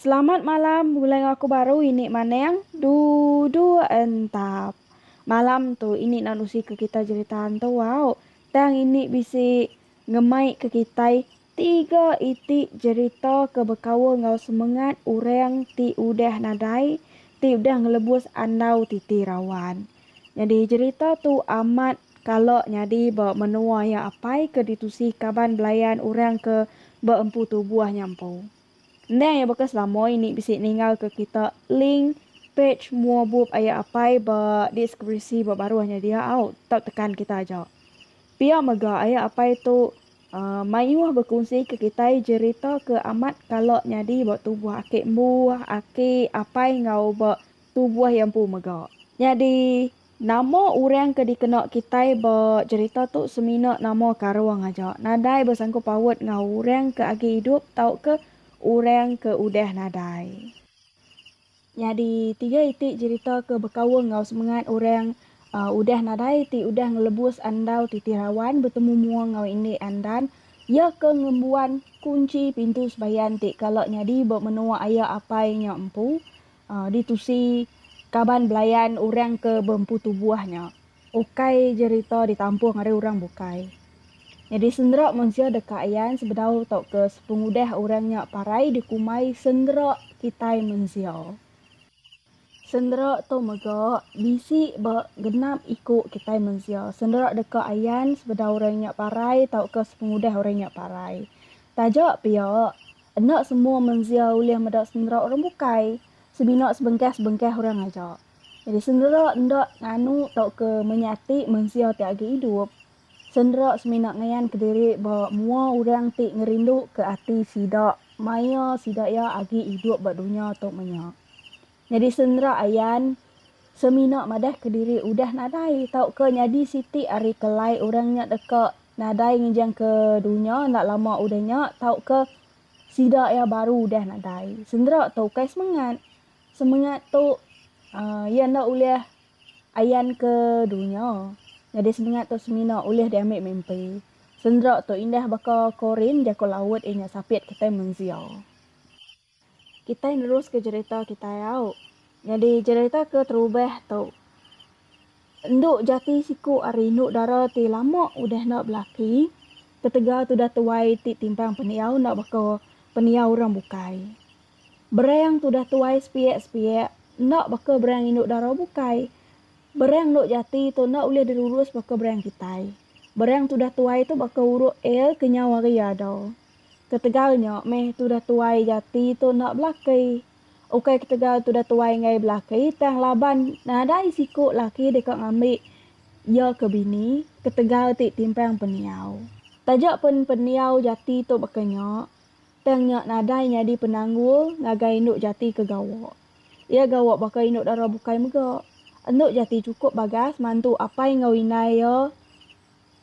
Selamat malam mulai enggau aku baru ini maneng duduk entap malam tu ini nan usi ke kita jerita ntu au tang ini bisi Ngemaika kitai tiga iti jerita ke bekaul enggau semengat orang ti udah nadai ti udah ngelebus andau titi rawan. Nyadi jerita tu amat kala nyadi ba menua iya apai ke ditusi kaban belayan orang ke beempu tubuh nya empu. Endang iya baka selama ini bisi ninggalka kita link page mua bup iya apai ba diskripsi ba baruh nya dia au tau tekan kita aja. Pia mega aya apai tu mayuh bekunsika kitai jerita ke amat kala nyadi ba tubuh aki embu, aki, apai enggau ba tubuh iya empu mega. Nyadi, nama orang ke dikena kitai ba jerita tu semina nama karung aja, nadai besangkut paut enggau orang ke agi idup tauka orang ke udah nadai. Nyadi tiga iti jerita ke bekaul enggau semengat orang udah nadai ti udah ngelebus andau titi rawan betemu mua enggau indik Andan iya ke ngembuan kunchi pintu sebayan ti kala nyadi ba menua aya apai nya empu ditusi kaban belayan orang ke beempu tubuh nya. Ukai jerita ditampung ari orang bukai. Nyadi sendera mensia deka ayan sebedau tauka sepengudah orang nya parai dikumbai sendera kitai mensia. Sendera tu mega bisi ba genap iku kitai mensia. Sendera deka ayan sebedau orang nya parai tauka sepengudah orang nya parai. Taja pia, enda semua mensia ulih meda sendera orang bukai, semina sebengkah-sebengkah orang aja. Jadi sendera enda nganu tauka menyati mensia ti agi idup, sendera semina ngayan kediri ba mua orang ti ngerinduka ati sida maya sida iya agi idup ba dunya tu menya. Nyadi sendera ayan semina madahka diri udah nadai tauka nyadi siti ari kelai orang nya deka nadai ngenjangka dunya enda lama udah nya tauka sida iya baru udah nadai. Sendera tu ukai semengat. Semengat tu iya enda ulih ayan ke dunya. Nyadi semengat tu semina ulih diambi mimpi. Sendera tu indah baka korin jaku laut iya nya sapit kitai mensia. Kitai neruska jerita kitai au. Nyadi jerita ke terubah tu endu jati siku ari endu dara ti lama udah enda belaki ketegal tudah tuai ti timbang pendiau enda baka pendiau orang bukai. Bereng tudah tuai sepiak-sepiak, enda baka bereng indu dara bukai. Bereng endu jati tu enda ulih dirurus baka bereng kitai. Bereng tudah tuai tu baka uruk el ke nyau hari ada. Ketegal nya meh tudah tuai jati tu enda belaki. Ukai ketegal tudah tuai enggai belaki tang laban nadai siku laki deka ngambi iya ke bini ketegal ti timpang pendiau. Taja pen pendiau jati tu baka nya, Tang nya nadai nyadi penanggul ngagai indu jati ke gawa. Iya gawa baka indu dara bukai mega. Endu jati chukup bagas mantu apai enggau indai iya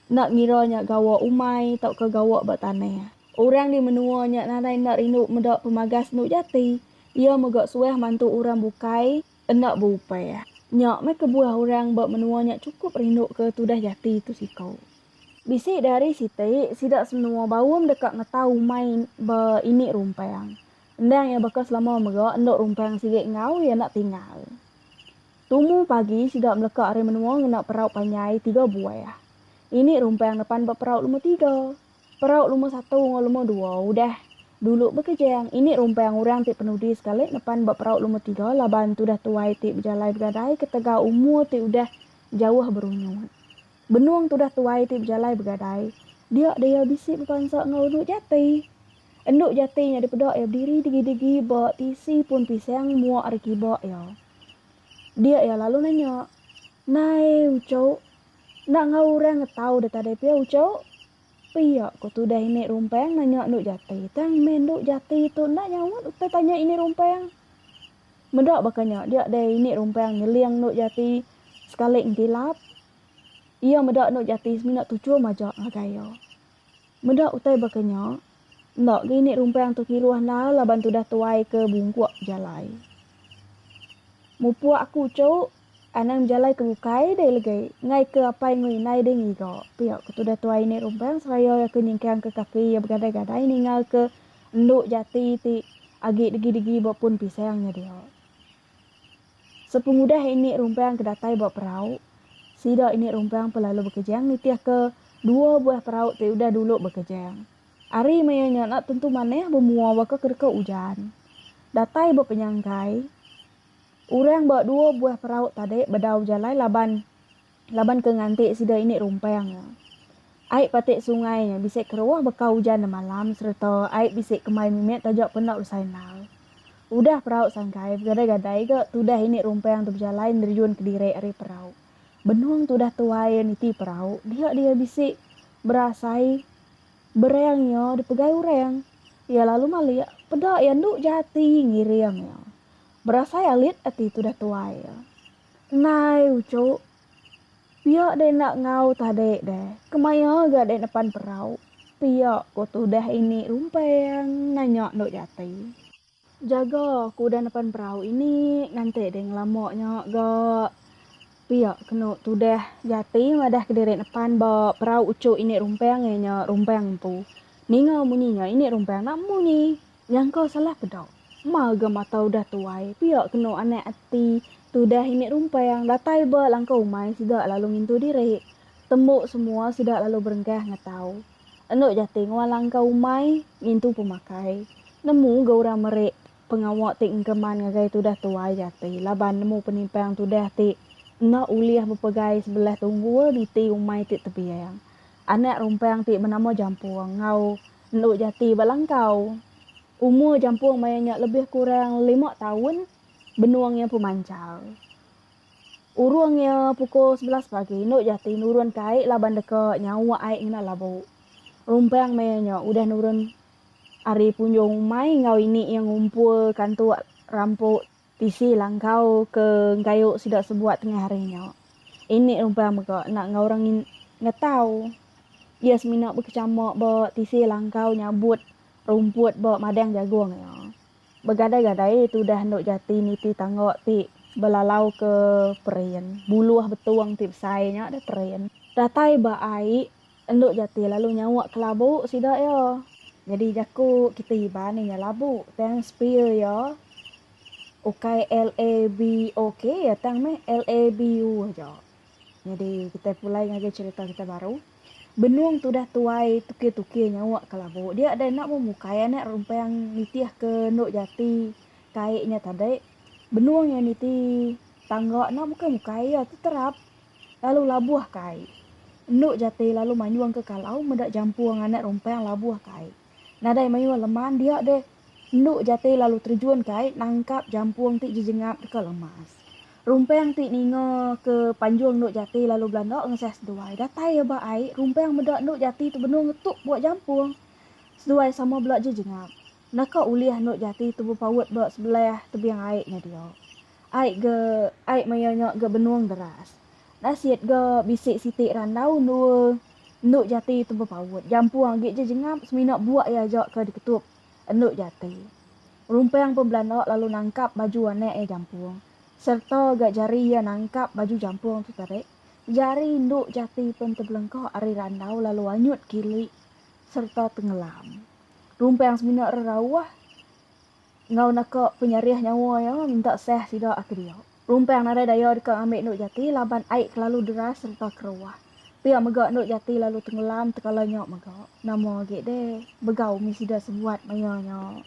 enda ngira nya gawa umai tauka gawa ba tanah. Orang di menua nya nadai enda rindu meda pemagas endu jati. Iya mega suah mantu orang bukai enda beupah. Nya meh kebuah orang ba menua nya chukup rinduka tudah jati tu siku. Bisi diari siti, sida semenoa baum deka ngetau umai ba ini rumpang. Endang iya baka selama mega enda rumpang sigi enggau iya enda tinggal. Tumu pagi sida meleka ari menoa ngena perau panjai tiga buah. Ini rumpang nepan ba perau luma tiga. Perau luma satu enggau luma dua udah. Dulu bekejang, ini rumpang orang ti penudi sekali nepan ba perau luma tiga laban tudah tuai ti bejalai begadai ketegal umur ti udah jauh berunyut. Benung tudah tuai ti bejalai begadai, dia daya bisi bepansa enggau endu jati. Endu jati nya dipeda iya bediri degi-degi ba tisi pun pisang mua ari kiba iya. Dia iya lalu nanya, Nai, uchu, enda enggau orang ngetau deh tadai pia uchu? Pia ko tudah ini rumpang nanya endu jati, tang meh endu jati tu enda nyaut utai tanya ini rumpang. Meda baka nya, dia dai ini rumpang nyeling endu jati sekali entilap. Iya meda endu jati semina tuchum aja ngagai iya. Meda utai baka nya, enda ga ini rumpang tu kiruh endar laban tudah tuai ke bungkuk jalai. Mupuk aku uchu. Anang bejalai ke bukai deh legi ngai ke apai enggau indai deh ngiga. Pia ke tudah tuai Inik Rumbang seraya iya ke nyingkangka kaki iya begadai-gadai ningalka endu jati ti agi degi-degi ba pun pisang nya dia. Sepengudah Inik Rumbang ke datai ba perau, sida Inik Rumbang pun lalu bekejang nitihka dua buah perau ti udah dulu bekejang. Ari maya nya enda tentu manah bemua baka ke deka ujan. Datai ba penyanggai. Orang ba dua buah perau tadi bedau jalai laban laban ke nganti sida ini rumpang. Ai pati sungai nya bisi keruah beka ujan demalam sereta ai bisi kemai mimit taja penda besai endar. Udah perau sangkai begadai-gadai ga tudah ini rumpang tu bejalai nerjun kediri ari perau. Benung tu udah tuai iya niti perau dia dia bisi berasai berang iya dipegai orang. Iya lalu malik peda iya endu jati ngiring iya. Berasai alit ati tudah tuai. Nai ucuk. Pia deh enda ngau tah dek deh. Kemaya ga dek nepan perau. Pia ko tudah ini rumpeng nanya endok jati. Jaga ko udah nepan perau ini nganti deh ngelama nya ga. Pia keno tudah jati madah kediri nepan ba perau ucuk ini rumpeng iya nya rumpeng empu. Ninga munyi nya ini rumpeng enda munyi. Nyangka salah peda. Mar ga mata udah tuai, pia kenu anak ati tudah ini rumpang datai ba langkau umai sida lalu ngintu diri. Tembu semua sida lalu berengkah ngetau. Endo jati ngua langkau umai ngintu pemakai. Nemu ga orang meri pengawa ti engkeman ngagai tudah tuai jati laban nemu penimpang tudah ti enda ulih bepegai sebelah tunggul niti umai ti tebiang. Anak rumpang ti benama Jampung enggau Endu Jati ba Langkau. Umur jampung maya nya lebih kurang lima taun, benung iya empu manchal. Urung iya pukul sebelas pagi, Endu Jati nurunka ai laban deka nyawa ai ngena labu. Rumpang maya nya udah nurun ari punjung umai enggau ini iya ngumpulka antuk rampuk Tisi langkau ke gayu sida sebuat tengah hari nya. Ini uban mega enda enggau orang ngi ngetau. Iya semina bekechama ba tisi langkau nyabut rumput ba madang jagung iya. Begadai-gadai tudah endu jati niti tangga ti belalau ke perin. Buluh betung ti besai nya deh perin. Datai ba ai Endu Jati lalu nyawa kelabu sida iya. Nyadi jaku kita Iban iya labu tang spear iya ukai LABOK iya tang meh LABU aja. Nyadi kita pulai ngagai cherita kita baru. Benung tudah tuai tukir-tukir nyawa kelabu dia deh enda mung ukai anak rumpang nitih ke Endu Jati kai nya tadi. Benung iya niti tangga enda mukai-mukai iya tu terap lalu labuh ka ai. Endu Jati lalu manyuh engka kalau meda jampu enga anak rumpang labuh ka ai. Nadai manyuh leman dia deh. Endu Jati lalu terjun ka ai nangkap jampung ti jejengap deka lemas. Rumpang ti ninga ke panjung Endu Jati lalu belanda ngesah seduai. Datai iya ba ai, rumpang meda Endu Jati tu benung ngetup buak jampung. Seduai sama bela jejengap. Naka ulih Endu Jati tu bepaut ba sebelah tebing ai nya dia. Ai ga ai maya nya ga benung deras. Nasit ga bisi siti randau endua endu jati tu bepaut. Jampung agi ja jengap semina buak iya aja ka diketup endu jati. Rumpang pun belanda lalu nangkap baju anak iya jampung serta ga jari iya nangkap baju jampung tu tadi. Jari endu jati pun tebelengka ari randau lalu anyut kili serta tengelam. Rumpang semina rerauh. Enggau naka penyarih nyawa iya minta sah sida ati dia. Rumpang nadai daya deka ngambi Endok Jati laban ai kelalu deras sereta keruah. Pia mega Endok Jati lalu tenggelam tekala nya mega. Nama agi deh bega umi sida sebuat maya nya.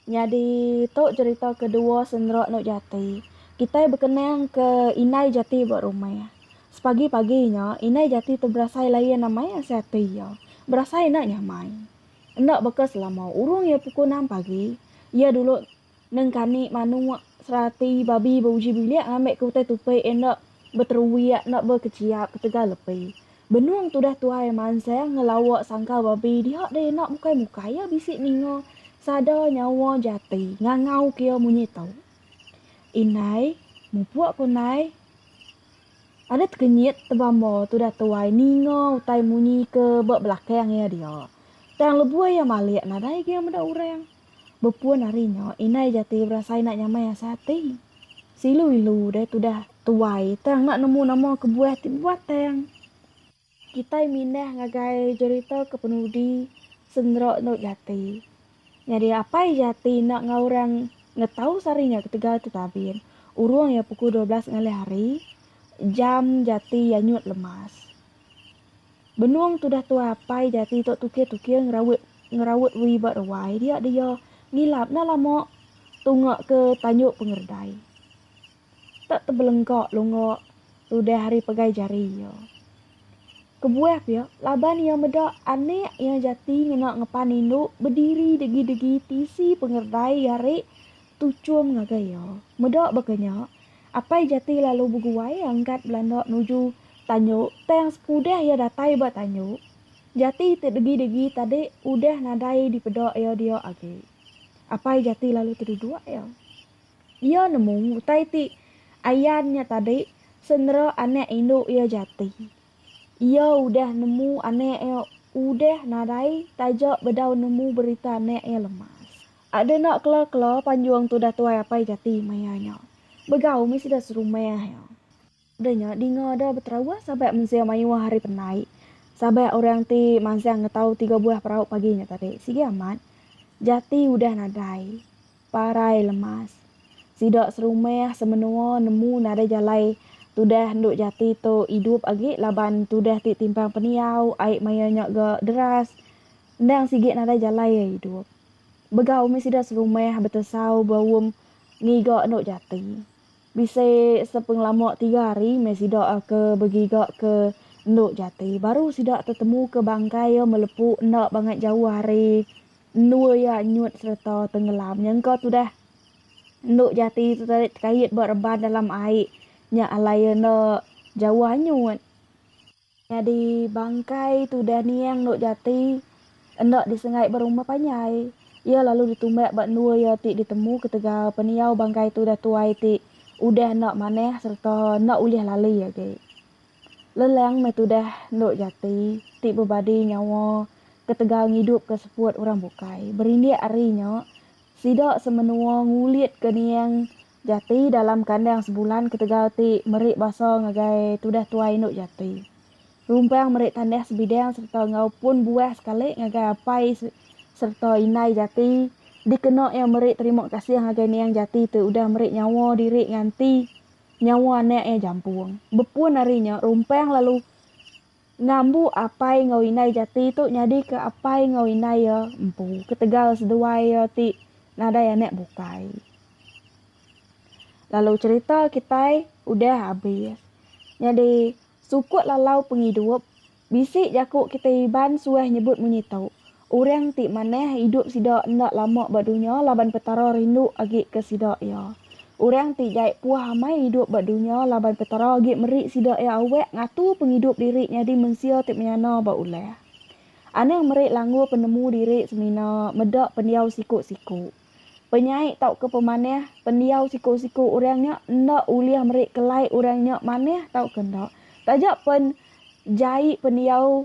Nyadi tu cherita kedua sendera Endok Jati. Kitai bekenang ke Inai Jati ba rumah. Sepagi-pagi nya Inai Jati tu berasai layan amai asa ati iya. Berasai enda nyamai. Enda baka selama urung iya pukul enam pagi, iya dulu nengkani manuk, serati, babi beuji bilik ngambi ke utai tupi enda beteruik enda bekechiap ketegal lepi. Benung tudah tuai mansang ngelawa sangkal babi diha deh enda mukai-mukai iya bisi ninga sada nyawa jati ngangauka iya munyi tu. Indai, mupuk ku nai. Adat kenyit tebamba tudah tuai ninga utai munyi ke ba belakang iya dia. Tang lebuh iya malik nadai agi iya meda orang. Bepun ari nya indai jati berasai enda nyamai asai ati. Seilu-ilu deh tudah tuai tang enda nemu nama kebuah ti bebatang. Kitai mindah ngagai jerita kepenudi Sendera Endur Jati. Nyadi apai jati enda enggau orang ngetau sehari nya ketegal tu tabin. Urung iya pukul dua belas ngalih hari, jam jati iya nyut lemas. Benung tudah tuai apai jati tu tukir-tukir ngeraut ngeraut wui ba ruai dia dia ngilap enda lama tunga ke tanjung pengeredai. tak tebelengka lunga tudah ari pegai jari iya. Kebuah pia, laban iya meda anak iya jati ngena ngepan indu bediri degi-degi tisi pengererai gari tuchum ngagai iya. Meda baka nya, apai jati lalu beguai angkat belanda nuju Tanyu tang sekudah iya datai ba Tanyu, jati ti degi-degi tadi udah nadai dipeda iya dia agi. Apai jati lalu teduduk iya. Iya nemu utai ti ayan nya tadi senera anak indu iya jati. Iya udah nemu anak iya udah nadai taja bedau nemu berita anak iya lemas. Ada enda kela-kela panjung tudah tuai apai jati maya nya. Begau mih sida serumah iya. Udah nya dinga da beterawah sabat mensing mayuh hari penai. Sabat orang ti mansang ngetau tiga buah perau pagi nya tadi. Sigi amat. Jati udah nadai. Parai lemas. Sida serumah semenua nemu nadai jalai tudah endu jati tu idup agi laban tudah ti timpang pendiau ai maya nya ga deras. Endang sigi nadai jalai iya idup. Begau mih sida serumah betesau beum ngiga endu jati. Bisi sepengelama tiga hari meh sida ke begiga ke endu jati baru sida tetemu ke bangkai iya melepu enda bangat jauh ari endua iya nyut sereta tengelam nyengka tudah endu jati tu tadi tekait ba reban dalam ai nya alai iya enda jauh anyut. Nyadi bangkai tudah niang Nok Jati enda disengai ba rumah panjai. Iya lalu ditumbak ba endur iya ti ditemu ketegal pendiau bangkai tudah tuai ti udah enda manah sereta enda ulih lali agi. Leleng meh tudah Nok Jati ti bebadi nyawa ketegal ngidupka seput orang bukai. Berindik ari nya, sida semenua ngulitka niang Jati dalam kandang sebulan ketegal ti meri basa ngagai tudah tuai indu jati. Rumpang meri tanah sebidang sereta enggau pun buah sekali ngagai apai sereta indai jati dikena iya meri terima kasih ngagai niang jati tu udah meri nyawa diri nganti nyawa anak iya jampung. Bepun ari nya, Rumpang lalu Ngambu apai enggau indai jati tu nyadika apai enggau indai iya empu ketegal seduai iya ti nadai anak bukai. Lalu cherita kitai udah habis. Nyadi sukut lalau pengidup bisi jaku kitai Iban suah nyebut munyi tu, Orang ti manah idup sida enda lama ba dunya laban Petara rindu agi ke sida iya. Orang ti jai puah amai idup ba dunya laban Petara agi meri sida iya awak ngatur pengidup diri nyadi mensia ti menyana ba ulah. Anang meri langgur penemu diri semina meda pendiau siku-siku. Penyai tauka pemanah, pendiau siku-siku orang nya enda ulih meri kelai orang nya manah tauka enda. Taja pen jai pendiau